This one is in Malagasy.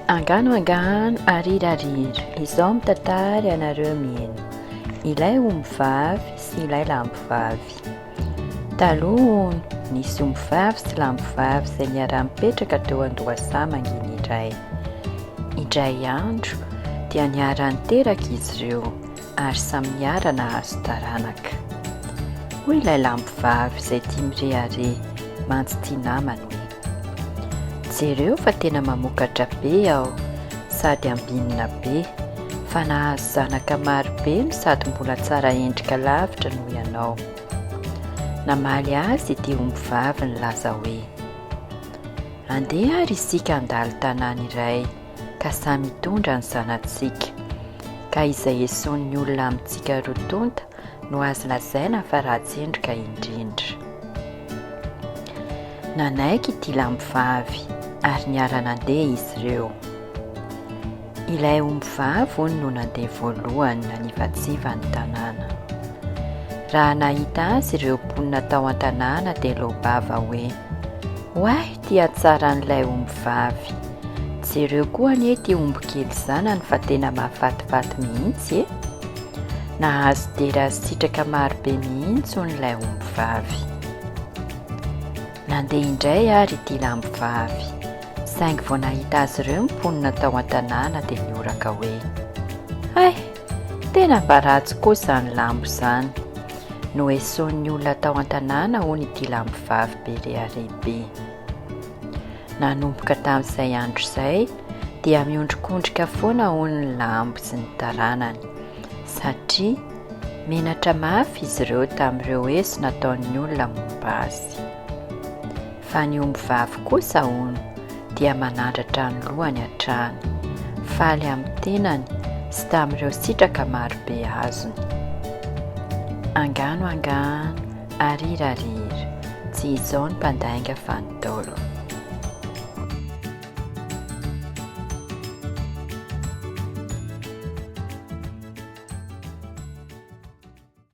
Angano angano arira arira izao mitatary anareo mieno ilay omby vavy sy ilay lambo vavy taloha nisy omby vavy sy lambo vavy izay niara-mipetraka teo an-dohasaha manginy iray indray andro dia niara-niteraka izy ireo ary samy niara nahazo taranaka. Hoy ilay lampivavy izay tia mirehareha mantsy tia namany hoe, Jereo fa tena mamokatra be aho sady ambinina be, fa nahazo zanaka maro be no sady mbola tsara endrika lavitra noho ianao. Namaly azy ity ombivavy nilaza hoe, Andeha ary isika handalo tanàna iray ka samy hitondra ny zanatsika, ka izay esoin'ny olona amintsika roa tonta no azo lazaina fa ratsendrika indrindra. Nanaiky ity lambivavy ary niara nandeha izy ireo. Ilay ombivavy hono no nandeha voalohany nanivatsiva ny tanàna. Raha nahita azy ireo mponina tao an-tanàna dia loa-bava hoe, Oay! Ty atsara an'ilay omby vavy. Jereo koa anie ity omby kely zanany fa tena mahafatifaty mihitsy e! Nahazo dera sy sitraka maro be mihitsy hono ilay omby vavy. Nandeha indray ary ity lambo vavy, saingy vao nahita azy ireo ny mponina tao an-tanàna dia nihoraka hoe, Hay! Tena mba ratsy koa izany lambo izany. Noesoin'ny olona tao an-tanàna hono ity lambovavy be rehareha be. Nanomboka tamin'izay andro izay dia miondrikondrika foana hono ny lambo sy ny taranany satria menatra mafy izy ireo tamin'ireo eso nataon'ny olona momba azy. Fa ny ombivavy kosa, hono, dia manandratra ny lohany hatrany, faly amin'ny tenany sy tamin'ireo sitraka marobe azony. Angano angano, arira arira, tsy izao ny mpandainga fa ny Ntaolo.